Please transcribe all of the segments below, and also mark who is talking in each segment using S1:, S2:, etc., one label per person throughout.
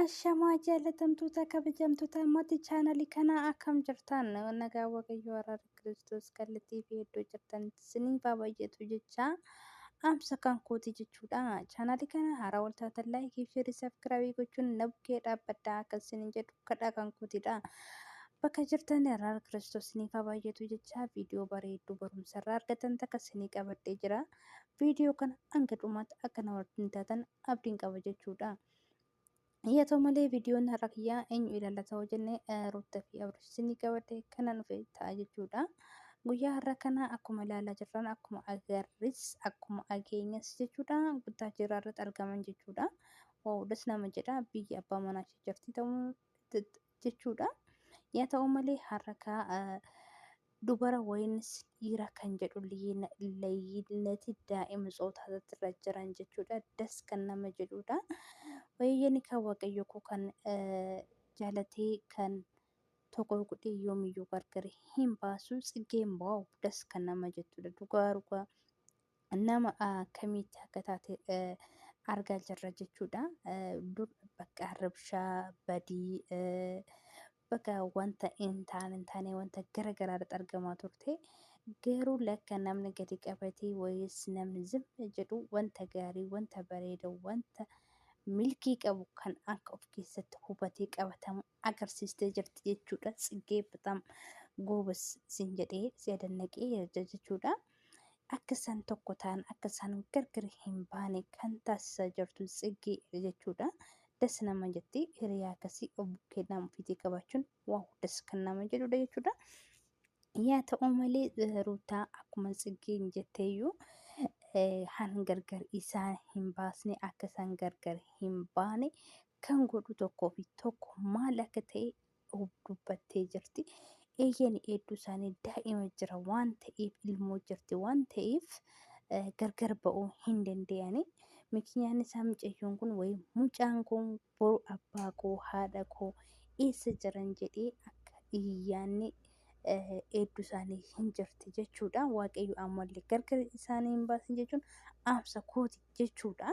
S1: Ashamaa jaalatamtoota kabajamtoota ammatti chaanalii kanaa akkam jirtan nagaa waaqayyoo araara kiristoos kallattii fi iddoo jirtan isinii baay'eetu jecha amsa kan kooti jechuudha chaanalii kana haaraa waltaatan laayikii fi sheerii sabiskiraabii gochuun na bukkee dhaabbadhaa akka isiniin jedhu kadhaa kan kootidha bakka jirtan araara kiristoos isiniif baay'eetu jecha viidiyoo bareedduu barumsa irraa argatan takka isinii qabadhee jira. Viidiyoo kana hanga dhumaatti akka na wajjin taatan abdiin qaba jechuudha. Yaa ta'u malee viidiyoon har'a kiyyaa eenyu ilaallata yoo jenne Ruuttaa fi Abrish isinii qabadhe kana dhufe ta'a jechuudha. Guyyaa har'a kana akkuma ilaalaa jirran akkuma agarris akkuma ageenyas jechuudha guddaa jira irratti argaman jechuudha. Waa'uudhas nama jedha biyya abbaa manaa ishee jirti ta'uu jechuudha. Yaa ta'u malee har'a kaa dubara waynis dhiira kan jedhu layyinati daa'ima tsootaatatti irra jiran jechuudha. Das kan nama jedhuudha. Wayyani kaa waaqayyo koo kan jaalatee kan tokko godhee yoomiyyuu gargari hin baasu tsiggeen baawu das kan nama jettuudha. Dhugaa dhugaa nama akkamiitti akka taate argaa jirra jechuudha. Dur bakka rabshaa badii bakka wanta hin taane hin taane wanta gara garaa irratti argamaa turte. Garuu lakka namni gadi qabatee wayis namni zimma jedhu wanta gaarii wanta bareeda wanta milkii qabu kan akka of keessatti hubatee qabatamu agarsiistee jirti jechuudha. Tsiggee bataam goobas siin jedhee si adannaqee jira jechuudha. Akka isaan tokko ta'an akka isaan gargar hin baane kan taasisaa jirtu tsiggee jechuudha. Das nama jetti hiriyaa akkasii obbukeedhaan ofiitii qabaachuun waaw das kan nama jedhudha jechuudha. Yaa ta'u malee ruutaa akkuma tsiggeen jetteeyyuu han gargar isaan hin baasne akka isaan gargar hin baane kan godhu tokkoo fi tokko maal akka ta'e dubbattee jirti. Eeyyeen hedduu isaanii daa'ima jira waan ta'eef ilmoo jirti waan ta'eef gargar ba'uu hin danda'ani. Mikinyaan isaa mucayyoon kun wayii mucaan kun boru abbaa koo haadha koo eessa jiran jedhee akka iyyaanni hedduu isaanii hin jirti jechuudha. Waaqayyo ammallee gargar isaanii hin baasin jechuun dhaamsa kooti jechuudha.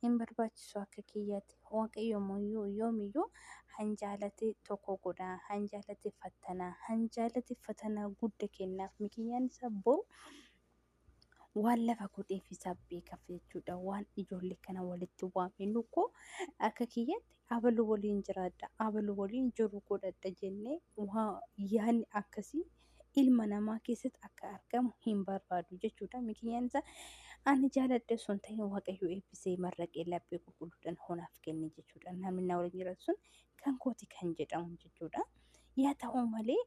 S1: hin barbaachisu akka kiyyati. Waaqayyo immoo yoomiyyuu hanjaalate tokko godha, hanjaalate fattana, hanjaalate fatanaa gudda kennaaf. Mikiyyaan isaa boru waan lafa godheef isaa beekaf jechuudha. Waan ijoollee kana walitti waame nukkoo akka kiyyatti abalu waliin jiraadha, abalu waliin jiru godhadha jennee waan yaanni akkasii ilma namaa keessatti akka argamu hin barbaadu jechuudha. Mikinyaan isaa ani jaaladhe osoo hin ta'in waaqayyo eebbisee marraqee laphee qulqulluudhaan honaaf kenne jechuudha. Namni na waliin jiraatu sun kan kooti kan jedhamu jechuudha. Yaa ta'u malee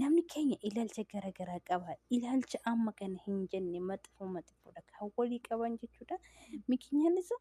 S1: namni keenya ilaalcha garaagaraa qaba. Ilaalcha amma kana hin jenne maxxifuu maxxifuudha kan walii qaban jechuudha. Mikinyaan isaa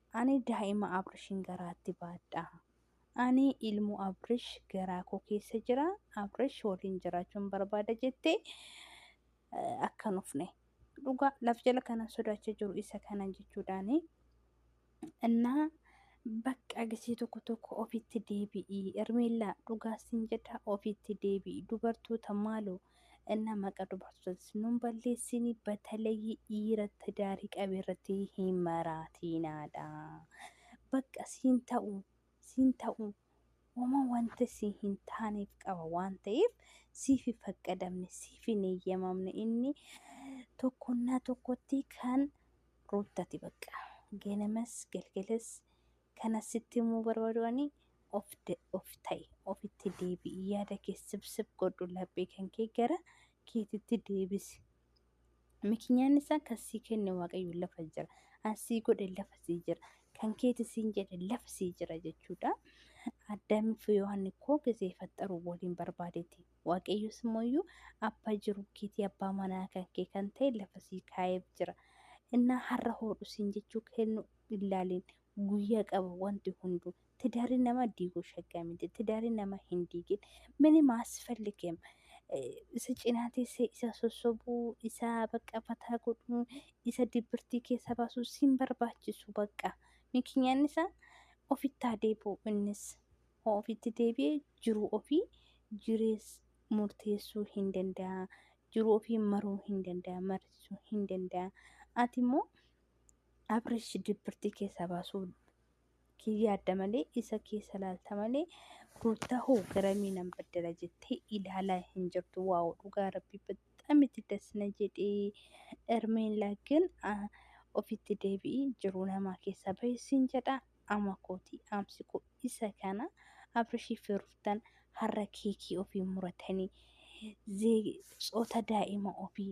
S1: Ani daa'ima Abrishin garaatti baadha. Ani ilmoo Abrish garaa koo keessa jira. Abrish waliin jiraachuun barbaada jettee eh, akkan ufne. Dhugaa laf jala kanan sodaachaa jiru isa kanan jechuudhaani. Innaa bakka agisee tokko tokko ofitti deebi'i. Ermeellaa dhugaa siin jedha ofitti deebi'i. Dubartoota maaloo እና maqa dubartotas nun balleessini batalayyi dhiira tidaari qabe irratti hin maraatiinaadha baqqa siin ta'u siin ta'u wama wanta si hin taaneef qaba waan ta'eef siif hin faqqadamne siif hin eeyyamamne inni tokkonnaa tokkotti kan ruuttati baqqa ganamas galgalas kan asitti immoo barbaadu ani of of ta'i ofitti deebi'i yaada kee sibsib godhu laphee kan kee gara keetitti deebisi mikinyaan isaa kan sii kenne waaqayyo lafa jira an sii godhe lafa sii jira kan keeti siin jedhe lafa sii jira jechuudha addaamii fi yohaanni koo gisee faxxaru waliin barbaadeeti waaqayyos immoo iyyuu abbaa jiru keetii abbaa manaa kan kee kan ta'e lafa sii kaa'eef jira innaa har'a hoodhu siin jechuu kennu illaaliin guyya qaba wanti hundu tidari nama digu shagga miti tidari nama hin digin minim asfalgim isa cina tese isa sosobu isa baqqa fata godhu isa dibirti kesa basu sin barbachisu baqqa mikinyan isa ofitti haa debi'u innis ho ofitti debi'e jiru ofi jires murtesu hin danda'a jiru ofi maru hin danda'a marisu hin danda'a ati immoo Abrish dibbirtii keessaa baasuu kiyya yaadda malee isa keessa laalta malee ruuttaa hoo garamii nan baddala jettee ilaalaa hin jirtu waa'u dhugaa rabbii bexxam itti dasna jedhee ermeen laaggin ofitti deebi'ii jiruu namaa keessaa baheessiin jedha ama kooti amsi koo isa kana abrishii fi ruuttan har'a keekii ofii muratanii tsoota daa'ima ofii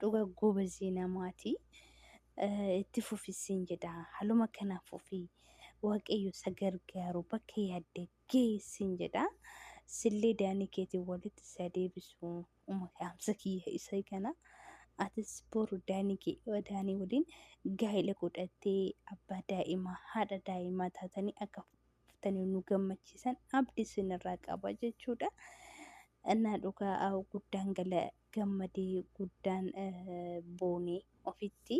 S1: Dhuga gobazii namaati. Itti fufissiin jedha. Haluma kana fufi. Waaqayyo isa gargaaru bakka yaadde geessiin jedha. Sillee daanii keetiin walitti isa deebisu. Uma kaamsa kiyya isa kana. Atis boru daanii kee daanii waliin gaa'ila godhattee abbaa daa'imaa haadha daa'imaa taatanii akka fuftanii nu gammachiisan abdi isinirraa qaba jechuudha. Innaa dhugaa guddaan gala gammadee guddaan boone ofitti.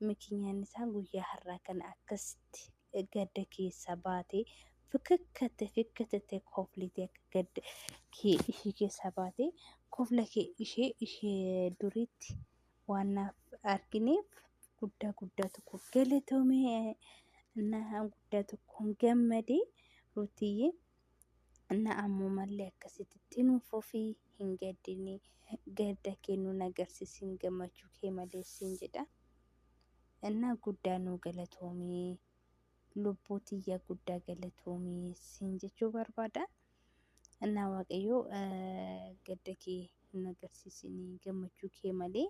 S1: Mikinyaan isaa guyyaa har'aa kana akkasitti gadda keessaa baate fikkatte fikkatte koflite akka gadda kee ishee keessaa baate kofla kee ishee ishee duriitti waan naaf argineef guddaa guddaa tokko galatoomee na guddaa tokkoon gammadee ruutiyyee na ammumallee akkasittitti nu fufi hin gaddini gadda kee nu nagarsisin gammachuu kee maleessiin jedha innaa guddaa nu galatoomii lubbuu tiyya guddaa galatoomii siin jechuu barbaada innaa waaqayyoo gadda kee hin agarsiisinii gammachuu kee malee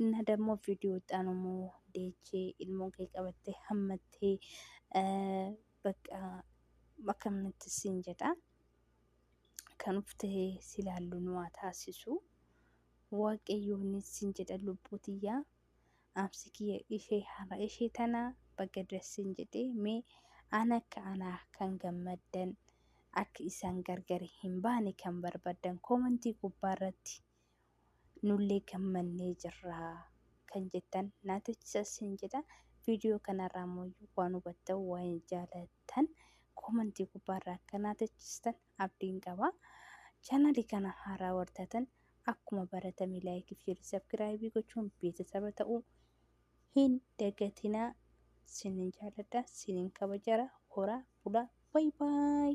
S1: innaa dammoo viidiyoo xaanumoo deechee ilmoo kee qabattee hammattee bakka akkamnatti siin jedha kan of ta'ee si laallu nu haa taasisu waaqayyoonis siin jedha lubbuu tiyyaa amsi kiyya ishee haadha ishee tana bakka dassin jedhe mee an akka anaa kan gammaddan akka isaan gargar hin baane kan barbaddan koomantii gubbaa irratti nullee gammannee jirra kan jettan naa teechisa sin jedha viidiyoo kanarraa immoo waan hubattan waan jaalattan koomantii gubbaarraa akka naa teechistan abdiin qaba chaanalii kana haaraa wartaatan akkuma baratame laayikii fi sabskiraayibii gochuun beeksisaba ta'uu hin dagatinaa sinin jaaladha sinin kabajara horaa bulaa baay baay